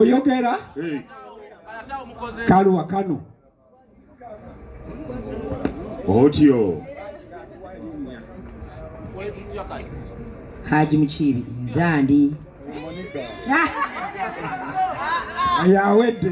oyogera kaluwa kano otyo haji mukiibi nzandi yawedde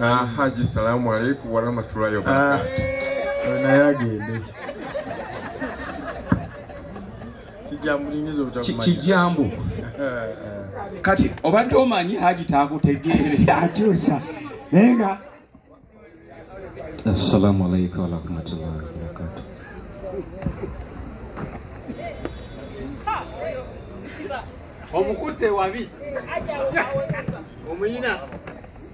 Ah, Haji salamu alaikum warahmatullahi wabarakatuh. Ah, naye agende kijambu kati obadde omanyi haji takutegeere akyusa naye nga assalamu alaikum warahmatullahi wabarakatuh. omukute wabi omuyina